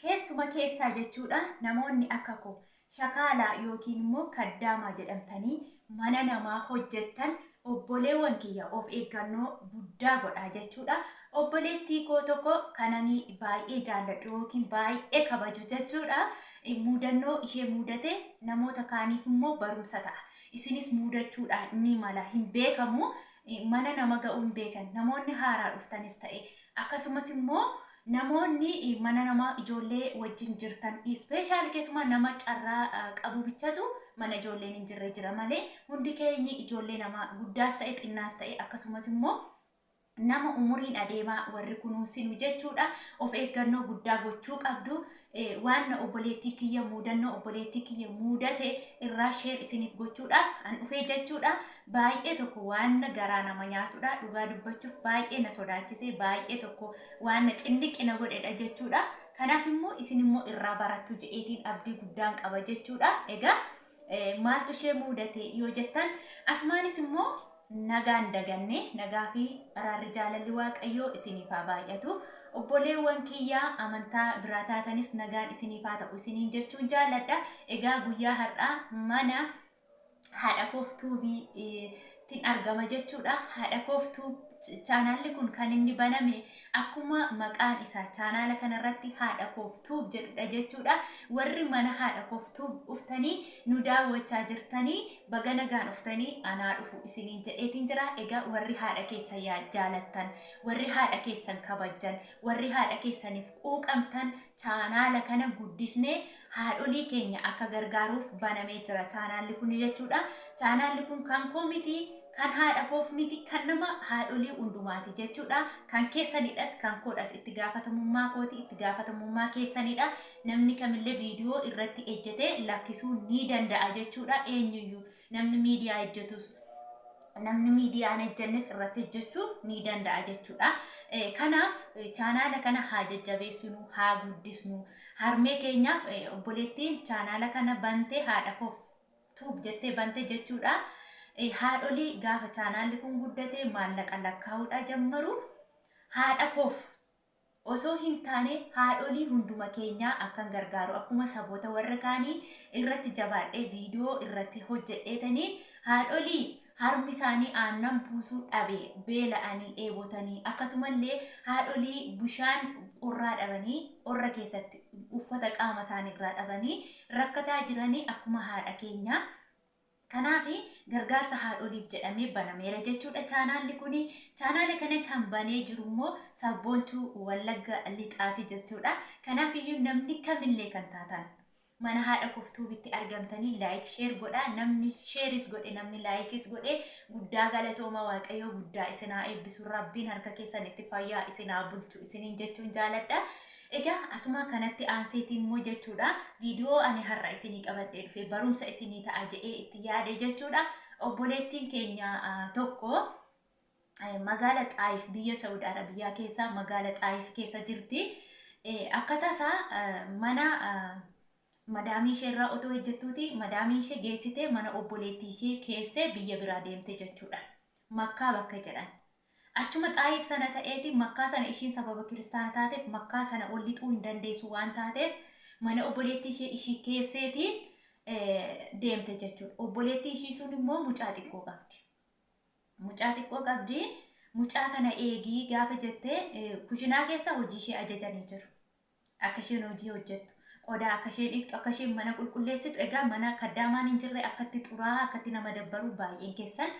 Keessuma keessaa jechuudha namoonni akka koo shakaalaa yookiin immoo kaddaamaa jedhamtanii mana namaa hojjettan obboleewwan kiyya of eeggannoo guddaa godhaa jechuudha. Obboleettii koo tokko kanani baay'ee jaalladhu yookiin baay'ee kabaju jechuudha muudannoo ishee muudate namoota kaaniif immoo barumsa ta'a. Isinis muudachuudhaan ni mala hin beekamu mana nama ga'uu hin beekan namoonni haaraa dhuftanis ta'e Akkasumas immoo namoonni mana namaa ijoollee wajjin jirtan ispeeshaali keessumaa nama carraa qabu bichatu mana ijoolleen hin jirre jira malee hundi keenyi ijoollee namaa guddaas ta'e xinnaas ta'e akkasumas immoo nama umuriin adeemaa warri kunuunsinu jechuudha of eeggannoo guddaa gochuu qabdu eh, waanna obboleettii kiyya muudannoo obboleettii kiyya muudate irraa sheer isiniif gochuudhaaf an dhufee jechuudha baay'ee tokko waanna garaa nama nyaatudha dhugaa dubbachuuf baay'ee na sodaachise baay'ee tokko waanna cinniqqi na godhedha jechuudha kanaaf immoo isin immoo irraa barattu je'eetiin abdii guddaan qaba jechuudha egaa Eh, maaltu ishee muudate yoo jettan asumaanis immoo nagaan daganne nagaa fi araarri jaalalli waaqayyoo isiniif haa baay'atu obboleewwan kiyyaa amantaa biraa taatanis nagaan isiniif haa ta'u isiniin jechuun jaaladha egaa guyyaa har'aa mana haadha koof tuubii eh, tin argama jechuudha haadha koof tuub chaanaalli kun kan inni baname akkuma maqaan isaa chaanaala kanarratti haadha koof tuub jedhudha jechuudha warri mana haadha koof tuub dhuftanii nu daawwachaa jirtanii baga nagaan dhuftanii anaa dhufu isiniin jedheetiin jira egaa warri haadha keessa yaa jaalattan warri haadha keessan kabajjan warri haadha keessaniif quuqamtan chaanaala kana guddisnee haadholii keenya akka gargaaruuf banamee jira chaanaalli kun jechuudha. Chaanaalli kun kan koo miti, kan haadha koof miti, kan nama haadholii hundumaati jechuudha. Kan keessanidhas, kan koodhas itti gaafatamummaa kooti, itti gaafatamummaa keessanidha. Namni kamillee viidiyoo irratti ejjetee lakkisuu ni danda'a jechuudha eenyuyyuu. Namni miidiyaa hojjetus namni miidiyaa hin hojjennes irratti hojjechuu ni danda'a jechuudha. Eh, Kanaaf eh, chaanaala kana haa jajjabeessinu, haa guddisnu. Harmee keenyaaf eh, obboleettiin chaanaala kana bantee haadha koof tuub jettee bante jechuudha. Eh, Haadholii gaafa chaanaalli kun guddate maallaqa lakkaa'uudha jammaru. Haadha koof osoo hin taane haadholii hunduma keenyaa akkan gargaaru akkuma saboota warra kaanii irratti jabaadhee video irratti hojjedheetanii haadholii harmi isaanii aannan buusuu dhabe beela'anii dheebotanii akkasumallee haadholii bishaan qorraa dhabanii qorra keessatti uffata qaama isaanii irraa dhabanii rakkataa jiranii akkuma haadha keenyaa Kanaaf gargaarsa haadholiif jedhamee banameera jechuudha chaanaalli kun. Chaanaala kana kan banee jiru immoo sabboontuu Wallagga Lixaati jechuudha. Kanaaf iyyuu namni kamillee kan taatan mana haadha koftuubitti argamtanii laayik sheer godhaa namni sheeris godhe namni laayikis godhe guddaa galatooma waaqayyoo guddaa isinaa eebbisu rabbiin harka keessan itti fayyaa isinaa bulchu isiniin jechuun jaaladha. Egaa asuma kanatti aanseeti immoo jechuudha viidiyoo ani har'a isinii qabadhee dhufe barumsa isinii ta'a jedhee itti yaade jechuudha. Obboleettiin keenya tokko magaala Xaayif biyya Saudi Arabiyaa keessa magaala Xaayif keessa jirti. Akka tasaa mana madaamii ishee irraa otoo hojjettuuti madaamii ishee geessitee mana obboleettii ishee keessee biyya biraa deemte jechuudha. Makkaa bakka jedhan. Achuma Xaayif sana ta'eeti Makkaa tana ishiin sababa kiristaana taateef Makkaa sana ol lixuu hin dandeessu waan taateef mana obboleettii ishee ishii keesseeti deemte jechuudha. Obboleettiin ishii sun immoo mucaa xiqqoo qabdi. Mucaa xiqqoo qabdi mucaa kana eegii gaafa jettee kushinaa keessa hojii ishee ajajanii jiru. akka isheen hojii hojjettu, qodaa akka isheen dhiqxu, akka isheen mana qulqulleessitu, egaa mana kaddaamaan hin jirre akkatti xuraa'aa akkatti nama dabbaru baay'een keessan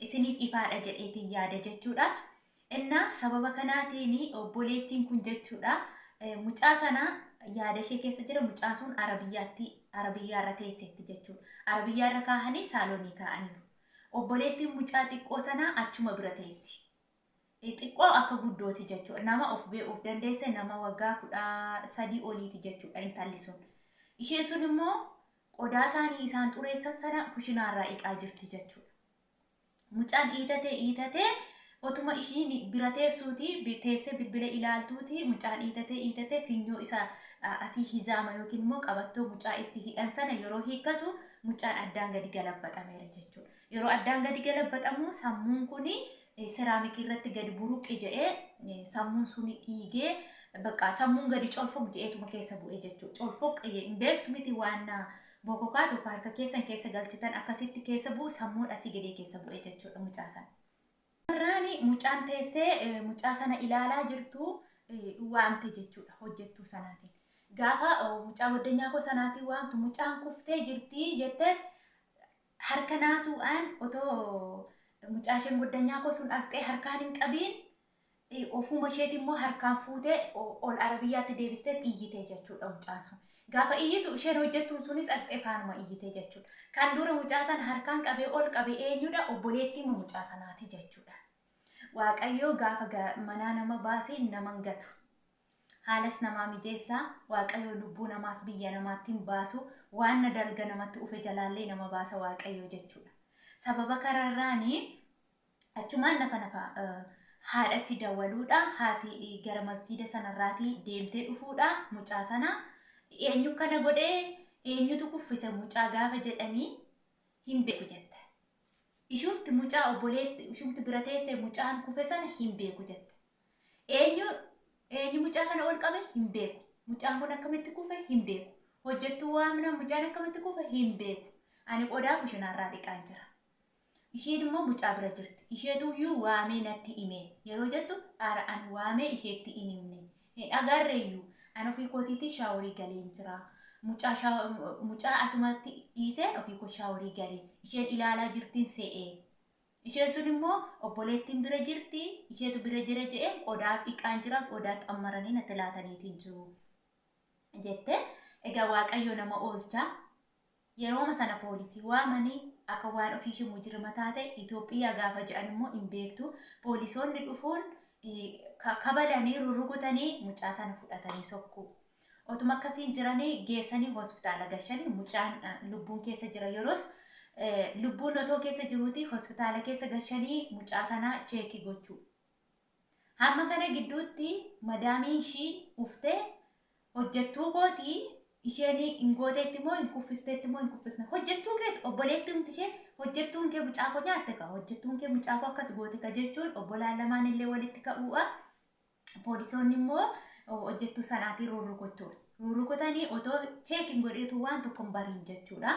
isiniif ifaadha jedheetiin yaada jechuudha. Innaa sababa kanaatiin obboleettiin kun jechuudha mucaa sana yaada ishee keessa jira mucaan sun arabiyyaatti arabiyyaarra teesseetti jechuudha. Arabiyyaarra kaahanii saaloonii kaa'aniiru. Obboleettiin mucaa xiqqoo sana achuma bira teessi. xiqqoo akka guddooti jechuudha. Nama of beekuuf dandeesse nama waggaa kudha sadii oliiti jechuudha intalli sun. Isheen sun immoo qodaa isaanii isaan xureessan sana kushinaarraa dhiqaa jirti jechuudha. Mucaan dhiitatee dhiitatee otuma ishiin bira teessuuti bi- teessee bilbila ilaaltuuti mucaan dhiitatee dhiitatee finyoo isa a, asii hizaama yookiin immoo qabattoo mucaa itti hidhan sana yeroo hiikkatu mucaan addaan gadi galabbaxameera jechuudha. Yeroo addaan gadi galabaxamu sammuun kuni seraamikii irratti gadi buruqi jedhee sammuun suni dhiigee bakka sammuun gadi colfoq jedheetuma keessa bu'e jechuudha. Colfoq hin beektu miti waan bokokaa tokko harka keessan keessa galchitan akkasitti keessa bu'u sammuun asii gadee keessa bu'e jechuudha mucaa sana. Carraani mucaan teessee mucaa sana ilaalaa jirtu waamte jechuudha hojjettuu sanaatiin. Gaafa mucaa goddanyaa koo sanaatiin waamtu mucaan kuftee jirti jetteet Harka naasuudhaan otoo mucaasheen goddanyaa koo sun dhaqxee harkaan hin qabiin ofuma isheeti immoo harkaan fuutee ol arabiyyaatti deebisteet iyyite jechuudha mucaan sun. Gaafa iyyitu isheen hojjettuun sunis dhaqxee faanuma iyyite jechuudha. Kan dura mucaa sana harkaan qabee ol qabe eenyudha? Obboleettiima mucaa sanaati jechuudha. Waaqayyoo gaafa manaa nama baase nama hin gatu. Haalas namaa mijeessa, Waaqayyoo lubbuu namaas biyya namaatti hin baasu, waanna dalga namatti ufe jalaallee nama baasa Waaqayyoo jechuudha. Sababa kararraani achumaan nafa nafa haadhatti dawaluudha, haati gara masjiida sanarraati deemtee dhufuudha, mucaa sana eenyu kana godhe, eenyutu kuffise mucaa gaafa jedhani hin beeku jette. Ishumti mucaa obboleetti ishumti bira teesse mucaan kufe sana hin beeku jette. Eenyu eenyu mucaa kana ol qabe hin beeku. Mucaan kun akkamitti kufe hin beeku. Hojjettuu waamna mucaan akkamitti kufe hin beeku. Ani qodaa kushinaarraa dhiqaan jira. Isheen immoo mucaa bira jirti. Isheetuyyuu waamee natti hime yeroo jettu ara ani waamee isheetti hin himne. Hin agarreeyyuu. Ani ofii kootiitii shaaworii galeen jira. Mucaa, shaa, mucaa asumatti dhiiseen ofii koo shaaworii galee. Isheen ilaalaa jirtiin se'ee. Isheen sun immoo, Obboleettiin bira jirti, isheetu bira jira jedheen qodaa dhiqaan jira, qodaa xammaranii natti laataniitiin jiru jette. Egaa Waaqayyo nama oolcha. Yerooma sana poolisii waamanii akka waan ofii ishee mujirima taate Itoophiyaa gaafa jedhan immoo hin beektu. Poolisoonni dhufuun eh, ka- kabalanii rurrukutanii mucaa sana fudhatanii sokkuu. Otuma akkasiin jiranii geessanii hospitaala gashanii mucaan lubbuun keessa jira yeroos lubbuun otoo keessa jiruuti hospitaala keessa gashanii mucaa sanaa cheekii gochuu. Hamma kana gidduutti madaamiin ishii uftee hojjettuu kooti isheen hin gooteetti moo hin kuffisteetti moo hin kuffisne hojjettuu keeti obboleetti humti ishee hojjettuun kee mucaa koo nyaatte ka hojjettuun kee mucaa koo akkas goote ka jechuun obbolaan lamaan illee walitti ka'uudha. Poolisoonni immoo hojjettuu sanaatiin rurrukuchuun rurrukutanii otoo cheekin godheetu waan tokko hin bariin jechuudha.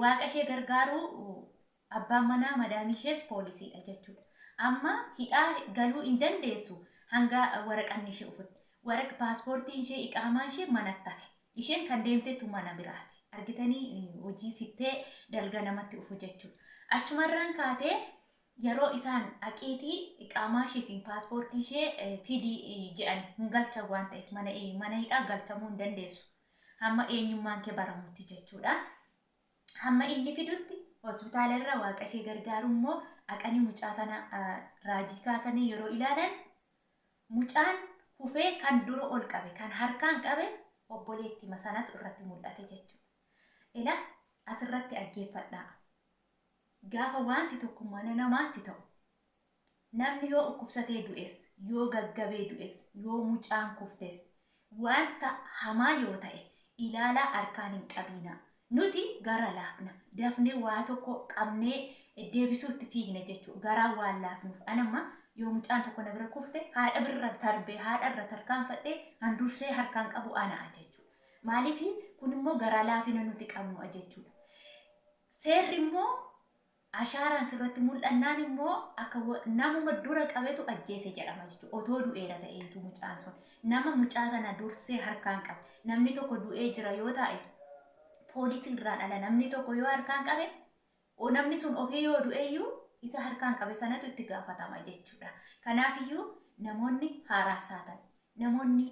Waaqa ishee gargaaruu abbaan manaa madaamii ishees poolisiidha jechuudha. Amma hidhaa galuu hin dandeessu hanga waraqanni ishee ufutti. Waraq paaspoortiin ishee iqaamaan ishee manatti hafe. Isheen kan deemtetu mana biraati. Argitanii hojii fittee dalga namatti ufu jechuudha. Achumarraan kaatee Yeroo isaan dhaqiitii iqaamaashii fi paaspoortii ishee fidi je'an hin galchan waan ta'eef mana mana hidhaa galchamuu hin dandeessu. Hamma eenyummaan kee baramutti jechuudha. Hamma inni fidutti hospitaala irra waaqa ishee gargaaru immoo dhaqanii mucaa sana raajii kaasanii yeroo ilaalan mucaan kufee kan dura ol qabe kan harkaan qabe obboleettima sanatu irratti mul'ate jechuudha. Ila asirratti dhaggeeffadhaa. Gaafa waanti tokko mana namaatti ta'u, namni yoo ukkubsatee du'es, yoo gaggabee du'es, yoo mucaan kuftes, waanta hamaa yoo ta'e ilaalaa harkaan hin qabiinaa. Nuti gara laafna. Dafnee waa tokko qabnee deebisuutti fiigna jechuudha. Garaa waan laafnuuf. An amma yoo mucaan tokko na bira kufte haadha birra tarbee haadha irra tarkaanfadhee an dursee harkaan qabu ana'a jechuudha. Maaliif kun immoo garaa laafina nuti qabnu'a jechuudha. Seerri immoo ashaaraan sirratti mul'annaan immoo akka namuma dura qabetu ajjeese jedhama jechuudha. Otoo du'eera ta'eetu mucaan sun nama mucaa sana dursee harkaan qabe. Namni tokko du'ee jira yoo ta'e poolisii irraan ala namni tokko yoo harkaan qabe namni sun ofii yoo du'eeyyuu isa harkaan qabe sanatu itti gaafatama jechuudha. Kanaafiyyuu namoonni haaraasaa ta'e namoonni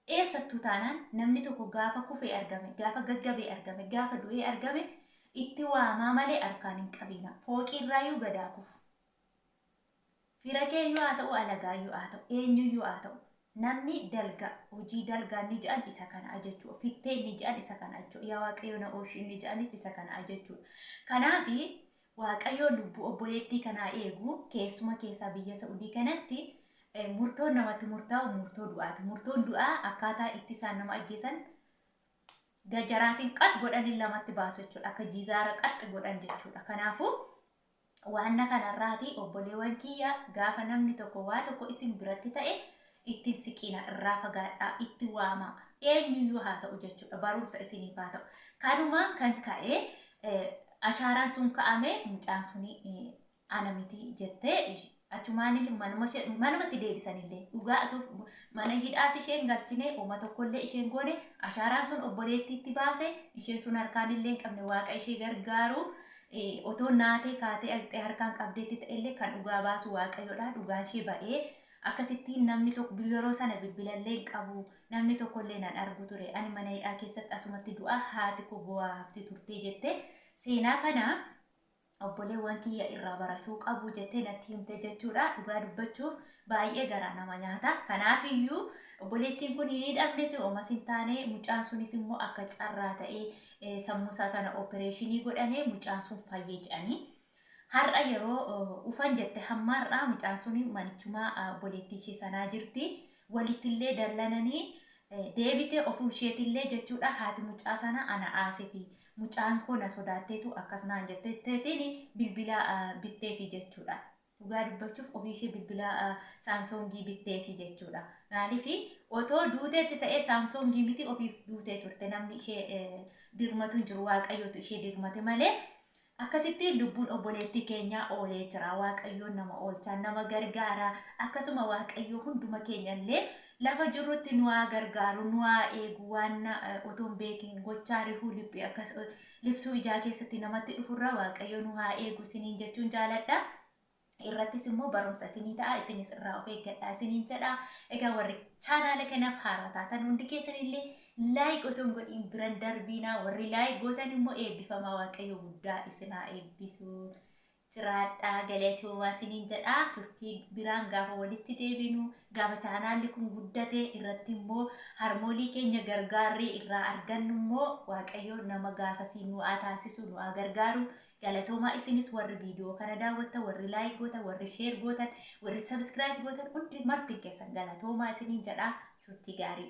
Eessattuu taanaan namni tokko gaafa kufee argame, gaafa gaggabee argame, gaafa du'ee argame itti waamaa malee harkaan hin qabiinaa. Fooqiirraayyuu gad haa kufu. Fira keeyyuu haa ta'u, alagaayyuu haa ta'u, eenyuyyuu haa ta'u. Namni dalgaa, hojii dalgaa inni jedhan isa kana ajechuu. Fittee inni jedhan isa kana ajechuu. Yaa Waaqayyo na oolchi inni jedhanis isa kana ajechuu. Kanaafi Waaqayyoo lubbuu obboleettii kanaa eegu keessuma keessaa biyya Sa'udii kanatti murtoon namatti murtaa'u murtoo du'aati. Murtoon du'aa akkaataa itti isaan nama ajjeesan gajaraatiin qax godhanii lamatti baasu jechuudha. Akka jizaara qaxxi godhan jechuudha. Kanaafuu waanna kanarraati obboleewwan kiyya gaafa namni tokko waa tokko isin biratti ta'e Itti hin siqiinaa, irraa fagaadhaa, itti waamaa, eenyuyyuu haa ta'u jechuudha. Barumsa isiniif haa ta'u. Kanumaan kan ka'e ashaaraan sun ka'ame mucaan sun ana miti jettee achumaan manuma ishee manumatti deebisanillee dhugaa atuuf mana hidhaas isheen galchine uma tokkollee isheen goone ashaaraan sun obboleettiitti baase isheen sun harkaanillee hin qabne waaqa ishee gargaaru otoo naatee kaatee aqxee harkaan qabdeetti ta'ellee kan dhugaa baasu waaqayyoodha dhugaan ishee ba'ee Akkasittiin namni tok yeroo sana bilbilallee hin qabu, namni tokkollee nan argu ture. Ani mana hidhaa keessatti asumatti du'a, haati koo boo'aa hafti turte jette. Seenaa kana obboleewwan kiyya irraa baratuu qabu jettee natti himte jechuudha. Dhugaa dubbachuuf baay'ee garaa nama nyaata. Kanaafiyyuu obboleettiin kun hin hidhamnes omas hin taane mucaan sunis immoo akka carraa ta'ee eh, sammuu isaa sana opereeshinii godhane mucaan sun fayye jedhanii. Har'a yeroo dhufan jette hamma har'aa mucaan sun manichuma obboleettii ishee sanaa jirti. Walittillee dallananii deebitee ofuu isheetillee jechuudha haati mucaa sana ana aasiti. Mucaan koo na sodaatteetu akkas naan jetteetiin bilbila bitteefi jechuudha. Dhugaa dubbachuuf ofii ishee bilbila saamsoongii bitteefi jechuudha. Maaliif otoo duuteetti ta'ee saamsoongii miti ofiif duutee turte namni ishee dirmatu hin jiru waaqayyootu ishee dirmate malee Akkasitti lubbuun obboleettii keenyaa oolee jira. Waaqayyoon nama oolchaa, nama gargaaraa, akkasuma Waaqayyoo hunduma keenya illee lafa jirrutti nu haa gargaaru, nu haa eegu, waan na- eh, otoo hin beekin gochaa rifuu liphii akkas eh, liphsuu ijaa keessatti namatti dhufurra Waaqayyo nu haa eegu isiniin jechuun jaaladha. irrattis immoo barumsa isinii ta'a isinis irraa of eeggadhaa isiniin jedha egaa warri chaanaala kanaaf haaraa taatan hundi keessanillee laayik otoo hin godhiin biran darbiinaa warri laayik gootan immoo eebbifamaa waaqayyo guddaa isinaa eebbisu jiraadhaa galatoomaa isiniin jedha turtii biraan gaafa walitti deebinu gaafa chaanaalli kun guddate irratti immoo harmoolii keenya gargaarree irraa argannu immoo waaqayyo nama gaafasii nu haa taasisu nu haa gargaaru Galatoomaa isinis warri video kana daawwattan warri like gootan warri share gootan warri subscribe gootan hundi martin keessan galatoomaa isiniin jedhaa turtii gaarii.